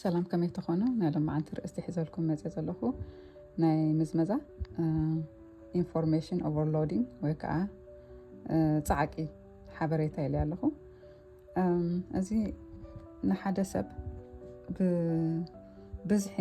ሰላም ከመይ ትኾኑ ናይ ሎማዓንቲ ርእስቲ ሒዘልኩም መፀ ዘለኹ ናይ ምዝመዛ ኢንፎርሜሽን ኦቨርሎዲንግ ወይ ከዓ ፃዕቂ ሓበሬታ ኢለ ኣለኹ እዚ ንሓደ ሰብ ብብዝሒ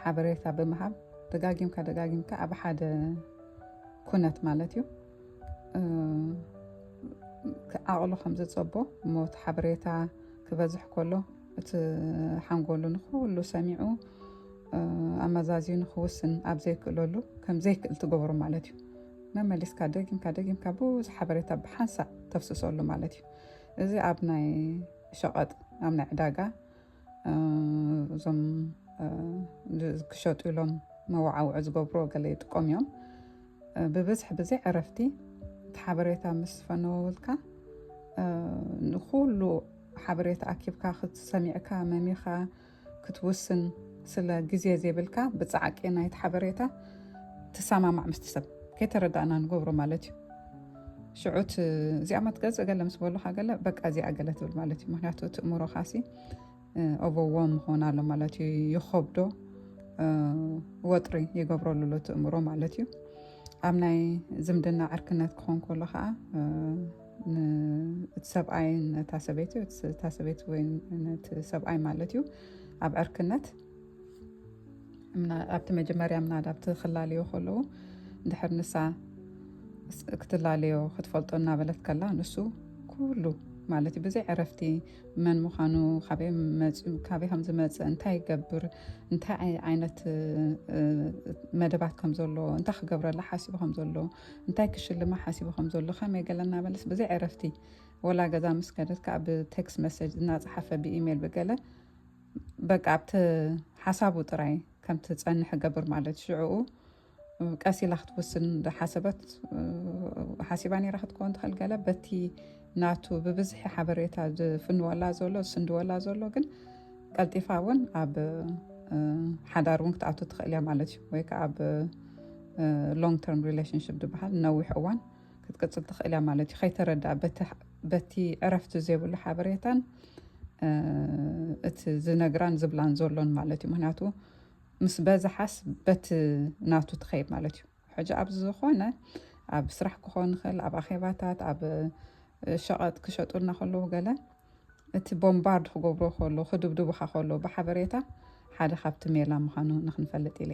ሓበሬታ ብምሃብ ደጋጊምካ ደጋጊምካ ኣብ ሓደ ኩነት ማለት እዩ ዓቕሉ ከም ዘጸቦ እሞ እቲ ሓበሬታ ክበዝሕ ከሎ እቲ ሓንጎሉ ንኩሉ ሰሚዑ ኣመዛዝዩ ንክውስን ኣብ ዘይክእለሉ ከም ዘይክእል ትገብሩ ማለት እዩ መመሊስካ ደጊምካ ደጊምካ ብዙሕ ሓበሬታ ብሓንሳእ ተፍስሰሉ ማለት እዩ እዚ ኣብ ናይ ሸቐጥ ኣብ ናይ ዕዳጋ እዞም ክሸጡ ኢሎም መወዓውዒ ዝገብሩ ገለ ይጥቀሙ እዮም ብብዝሒ ብዘይ ዕረፍቲ እቲ ሓበሬታ ምስ ፈነወውልካ ንኩሉ ሓበሬታ ኣኪብካ ክትሰሚዕካ መሚኻ ክትውስን ስለ ግዜ ዘይብልካ ብፃዕቂ ናይቲ ሓበሬታ ትሰማማዕ ምስቲ ሰብ ከይተረዳእና ንገብሮ ማለት እዩ ሽዑት እዚኣ መትገፅ ገለ ምስ በሉካ ገለ በቃ እዚኣ ገለ ትብል ማለት እዩ ምክንያቱ እቲ እምሮካሲ ኦቨዎም ክኾን ኣሎ ማለት እዩ ይኸብዶ ወጥሪ ይገብረሉ ኣሎ እቲ እምሮ ማለት እዩ ኣብ ናይ ዝምድና ዕርክነት ክኾን ከሎ ከዓ እቲ ሰብኣይ ነታ ሰበይቲ እቲ ሰበይቲ ወይ ነቲ ሰብኣይ ማለት እዩ ኣብ ዕርክነት ኣብቲ መጀመርያ ምናዳ ኣብቲ ክላለዮ ከለዉ እንድሕር ንሳ ክትላለዮ ክትፈልጦ እናበለት ከላ ንሱ ኩሉ ማለት እዩ ብዘይ ዕረፍቲ መን ምዃኑ ካበይ መፅኡ ካበይ ከም ዝመፅእ እንታይ ይገብር እንታይ ዓይነት መደባት ከም ዘሎ እንታይ ክገብረላ ሓሲቡ ከም ዘሎ እንታይ ክሽልማ ሓሲቡ ከም ዘሎ ከመይ ገለ እናበለስ ብዘይ ዕረፍቲ ወላ ገዛ ምስ ከደት ከዓ ብቴክስ መሰጅ እናፀሓፈ ብኢሜይል ብገለ በቃ ኣብቲ ሓሳቡ ጥራይ ከም ትጸንሕ ገብር ማለት ሽዕኡ ቀስ ኢላ ክትውስን ዝሓሰበት ሓሲባ ነራ ክትከውን ትኽእል ገለ በቲ ናቱ ብብዝሒ ሓበሬታ ዝፍንወላ ዘሎ ዝስንድወላ ዘሎ ግን ቀልጢፋ እውን ኣብ ሓዳር እውን ክትኣቱ ትኽእል እያ ማለት እዩ ወይ ከዓ ኣብ ሎንግ ተርም ሪሌሽንሽፕ ዝበሃል ነዊሕ እዋን ክትቅጽል ትኽእል እያ ማለት እዩ ከይተረድኣ በቲ ዕረፍቲ ዘይብሉ ሓበሬታን እቲ ዝነግራን ዝብላን ዘሎን ማለት እዩ ምክንያቱ ምስ በዝሓስ በቲ ናቱ ትኸይድ ማለት እዩ ሕጂ ኣብዚ ዝኾነ ኣብ ስራሕ ክኾን ይኽእል ኣብ ኣኼባታት ኣብ ሸቐጥ ክሸጡልና ከለዉ ገለ እቲ ቦምባርድ ክገብሮ ከሎ ክድብድቡኻ ከሎ ብሓበሬታ ሓደ ካብቲ ሜላ ምዃኑ ንክንፈልጥ ኢለ